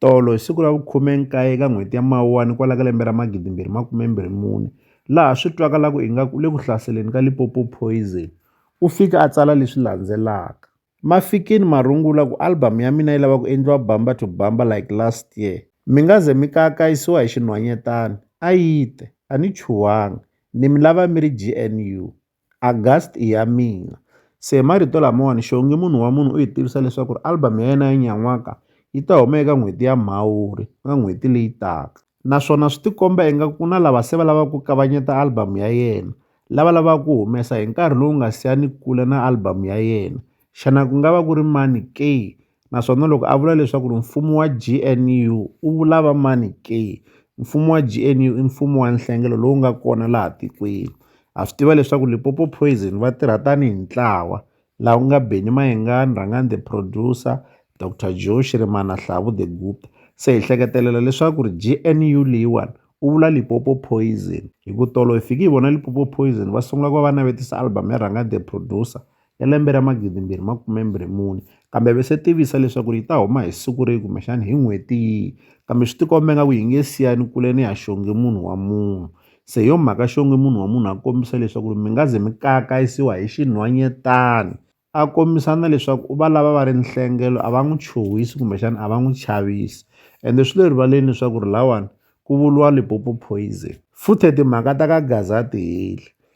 Tolo hi siku ra vu 19 ka n'hweti ya Mawuwani kwala ka lembe ra 2024, laha swi twakalaku ingaku u le ku hlaseleni ka Limpopo Poison, u fike a tsala leswi landzelaka, Ma fikini marungula ku album ya mina yi lava ku endliwa bumper to bumper like last year. Mi nga ze mi kaakayisiwa hi xinhwanyetana, a yi te, A ni chuhangi, ni mi lava mi ri GNU. August i ya mina se hi marito lamawani xongi munhu wa munhu u hi tivisa leswaku ri album ya yena ya nyan'waka yi ta huma eka n'hweti ya Mhawuri ka n'hweti leyi taka naswona swi tikomba ingaku ku na lava se va lava ku kavanyeta album ya yena lava lavaka ku humesa hi nkarhi lowu nga siyani kule na album ya yena xana ku nga va ku ri mani ke naswona loko a vula leswaku ri mfumo wa G_N_U u vula va mani ke, mfumo wa G_N_U i mfumo wa nhlengelo lowu nga kona laha tikweni ha swi tiva leswaku Limpopo poison va tirha tanihi ntlawa laha ku nga Benny Mayengani, Rhangani the producer, Doctor Joe Shirimani na Hlavu the guru. Se hi hleketelela leswaku ri G_N_U leyiwani u vula Limpopo poison hi ku tolo hi fiki hi vona Limpopo poison va sungula ku va va navetisa album ya Rhangani the producer. ya lembe ra 2024, kambe a va se tivisa leswaku yi ta huma hi siku rihi kumbexana hi n'hweti yihi. Kambe swi tikombe ingaku yi nge siyani kule ni ya xongi munhu wa munhu. Se hi yo mhaka xongi munhu wa munhu a kombisa leswaku mi nga ze mi kayakayisiwa hi xinhwanyetana. A kombisa na leswaku u va lava va ri nhlengelo a va n'wi chuhisi kumbexana a va n'wi chavisi. Ende swi le rivaleni leswaku ri lahawani ku vuriwa Limpopo poison. Futhe timhaka ta ka Gaza a ti heli.